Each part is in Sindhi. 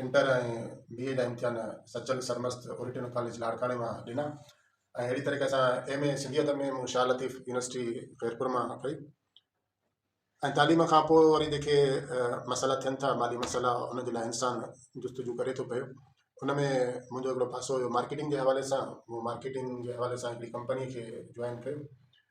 انٽر ۽ بي اي جا امتحان سچل سرمست اورينٽل ڪاليج لاڙڪاڻي مان ڏنا ۽ اهڙي طريقي سان ايم اي سنڌيت ۾ مون شاهه لطيف يونيورسٽي خيرپور مان ڪئي ۽ تعليم کان پوء وري جيڪي مسئلا ٿين ٿا مالي مسئلا ان جي لاء انسان جستجو ڪري ٿو پيو ان ۾ منهنجو هڪڙو پاسو هيو مارڪيٽنگ جي حوالي سان مون مارڪيٽنگ جي حوالي سان هڪڙي ڪمپني کي جوائن ڪيو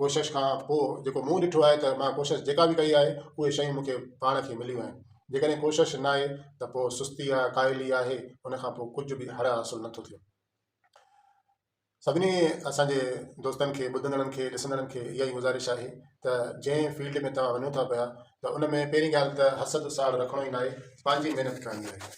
ڪوشش کان پوء جيڪو مون ڏٺو آهي ته مان ڪوشش جيڪا به ڪئي آهي اهي شيون مون کي پاڻ کي مليون آهن جيڪڏهن ڪوشش ناهي ته پوء سستي آهي ڪاهلي آهي ان کان پوء ڪجهه به هڙ حاصل نٿو ٿئي سڀني اسان جي دوستن کي ٻڌندڙن کي ڏسندڙن کي اها ئي گذارش آهي ته جنهن فيلڊ ۾ توهان وڃو ٿا پيا ته ان ۾ پهرين ڳالهه ته حسد ساڙ رکڻو ئي ناهي پنهنجي محنت ڪرڻي آهي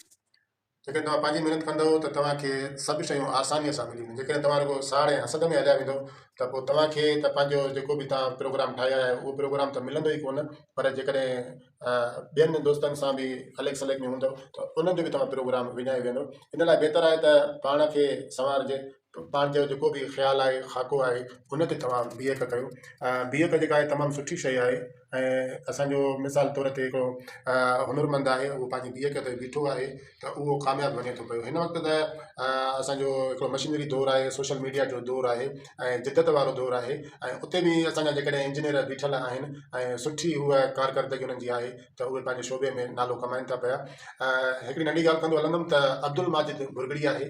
جيڪڏهن توهان پنهنجي محنت ڪندؤ ته توهان کي سڀ شيون آسانيء سان ملي وينديون. جيڪڏهن توهان رڳو ساڙ ۽ حسد ۾ هليا ويندؤ ته پوء توهان کي ته پنهنجو جيڪو به توهان پروگرام ٺاهي آيا آهيو اهو پروگرام ته ملندو ئي ڪونه پر جيڪڏهن ٻين دوستن سان به عليڪ سليڪ ۾ هوندؤ ته انهن جو به توهان پروگرام وڃائي ويهندؤ. ان لاء بهتر آهي ته پاڻ کي سنوارجي. پنهنجو جيڪو به خيال آهي خاڪو آهي ان کي توهان بيهڪ ڪيو بيهڪ جيڪا آهي تمام سٺي شيء آهي ۽ اسانجو مثال طور تي هڪڙو هنر مند آهي اهو پنهنجي بيهڪ تي بيٺو آهي ته اهو ڪامياب وڃي ٿو پيو هن وقت ته اسانجو هڪڙو مشينري دور آهي سوشل ميڊيا جو دور آهي ۽ جدت وارو دور آهي ۽ اتي به اسانجا جيڪڏهن انجنيئر بيٺل آهن ۽ سٺي هوء ڪارڪردگي انهن جي آهي ته اهي پنهنجي شعبي ۾ نالو ڪمائين ٿا پيا هڪڙي ننڍي ڳالهه ڪندو هلندم ته عبدالماجد ڀرڳڙي آهي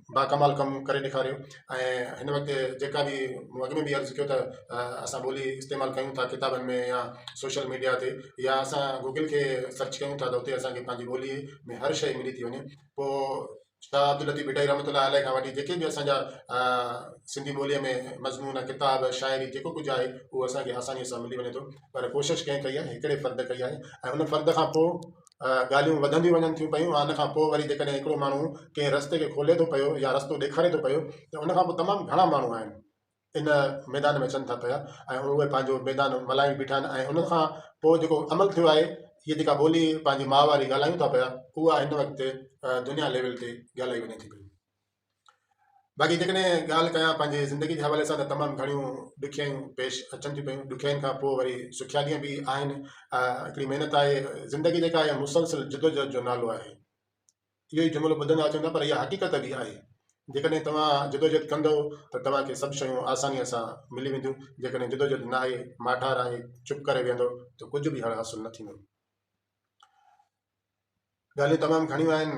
با ڪمال ڪم ڪري ڏيکاريو ۽ هن وقت جيڪا به مون اڳ ۾ به عرض ڪيو ته اسان ٻولي استعمال ڪيون ٿا ڪتابن ۾ يا سوشل ميڊيا تي يا اسان گوگل کي سرچ ڪيون ٿا ته اتي اسانکي پنهنجي ٻولي ۾ هر شيء ملي ٿي وڃي پوء شاهه عبداللطيف ڀٽائي رحمت الله عليه کان وٺي جيڪي به اسانجا سنڌي ٻوليء ۾ مضمون ڪتاب شاعري جيڪو ڪجهه آهي اهو اسانکي آسانيء سان ملي وڃي ٿو پر ڪوشش ڪنهن ڪئي آهي هڪڙي فرد ڪئي آهي ۽ ان فرد کان پوء ڳالهيون وڌنديون وڃن ٿيون پيون ان کان پوء وري جيڪڏهن هڪڙو ماڻهو ڪنهن رستي کي کولي ٿو پيو يا رستو ڏيکاري ٿو پيو ته ان کان پوء تمام گهڻا ماڻهو آهن ان ميدان ۾ اچن ٿا پيا ۽ اهي پنهنجو ميدان ملهائي بيٺا آهن ۽ ان کان پوء جيڪو عمل ٿيو آهي هي جيڪا ٻولي پنهنجي ماء واري ڳالهايون ٿا پيا اها هن وقت دنيا ليول تي ڳالهائي وڃي ٿي پئي باقي جيڪڏهن ڳالهه ڪيان پنهنجي زندگي جي حوالي سان ته تمام گهڻيون ڏکيائيون پيش اچن ٿيون پيون ڏکيائين کان پوء وري سکيا ڏينهن به آهن هڪڙي محنت آهي زندگي جيڪا آهي مسلسل جدوجهد جو نالو آهي اهو ئي جملو ٻڌندا اچون ٿا پر اها حقيقت به آهي جيڪڏهن توهان جدوجهد ڪندو ته توهان کي سڀ شيون آسانيء سان ملي وينديون جيڪڏهن جدوجهد نه آهي ماٺار آهي چپ ڪري ويهندو ته ڪجهه به هڙ حاصل نه ٿيندو ڳالهيون تمام گهڻيون آهن،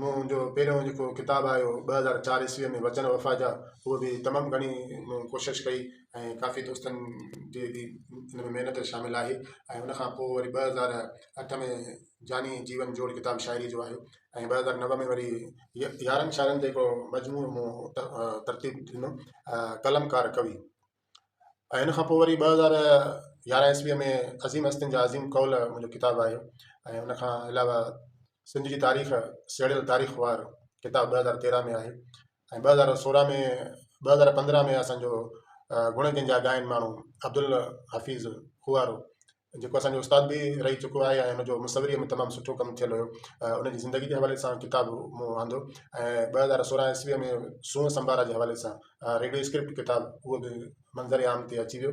مون جو پهريون جيڪو ڪتاب آيو هو ٻه هزار چار عيسويء ۾ وچن وفا جا، اهو به تمام گهڻي مون ڪوشش ڪئي ۽ ڪافي دوستن جي به ان ۾ محنت شامل آهي ۽ ان کان پوء وري ٻه هزار اٺ ۾ جاني جيون جوڙ ڪتاب شاعريء جو آيو ۽ ٻه هزار نو ۾ وري يارهن شاعرن تي هڪڙو مجموعو مون ترتيب ڏنو قلمڪار ڪوي ۽ ان کان پوء وري ٻه هزار يارهن عيسويء ۾ عظيم هستين جا عظيم قول منهنجو ڪتاب آيو ۽ ان کان علاوه سنڌ جي تاريخ سهيڙيل تاريخ وار ڪتاب ٻه هزار تيرهن ۾ آهي ۽ ٻه هزار سورهن ۾ ٻه هزار پندرهن ۾ اسانجو گڻ جنهن جا ڳائن ماڻهو عبدالحفيظ کوهارو جيڪو اسان جو استاد به رهي چڪو آهي ۽ ان جو مصوريء ۾ تمام سٺو ڪم ٿيل هيو ان جي زندگي جي حوالي سان ڪتاب مون آندو ۽ ٻه هزار سورهن عيسويء ۾ سونهن سنڀارا جي حوالي سان ريڊيو اسڪرپٽ ڪتاب اهو به منظر عام تي اچي ويو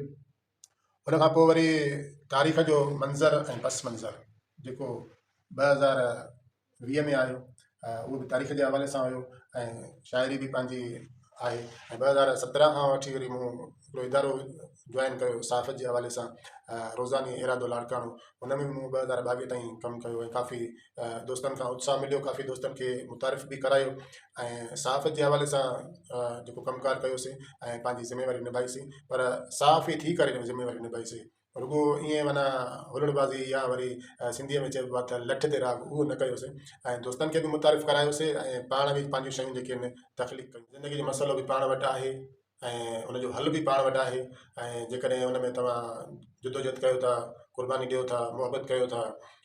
ان کان پوء وري تاريخ جو منظر ۽ پس منظر جيڪو ٻه هزار ويهه ۾ آيو اهو به تاريخ جي حوالي سان هيو ۽ شاعري به پنهنجي آهي ۽ ٻه هزار سترهن کان وٺي وري مون هڪڙو ادارو جوائن ڪيو صحافت جي حوالي سان روزاني ارادو لاڙڪاڻو ان ۾ به مون ٻه هزار ٻاويهه تائين ڪم ڪيو ۽ ڪافي دوستن کان اتساهه مليو ڪافي دوستن کي متعارف به ڪرايو ۽ صحافت جي حوالي سان جيڪو ڪم ڪار ڪيوسي ۽ پنهنجي ذميواري نڀائيسي پر صحافي ٿي ڪري ذميواري نڀائيسي رڳو ائين معنيٰ هلڙ بازي يا وري سنڌيء ۾ چئبو آهي ته لٺ تي راڳ اهو نه ڪيوسين ۽ دوستن کي به متعارف ڪرايوسين ۽ پاڻ به پنهنجون شيون جيڪي آهن تخليق ڪيون. زندگيء جو مسئلو به پاڻ وٽ آهي ۽ ان جو حل به پاڻ وٽ آهي ۽ جيڪڏهن ان ۾ توهان جدوجهد ڪيو ٿا، قرباني ڏيو ٿا، محبت ڪيو ٿا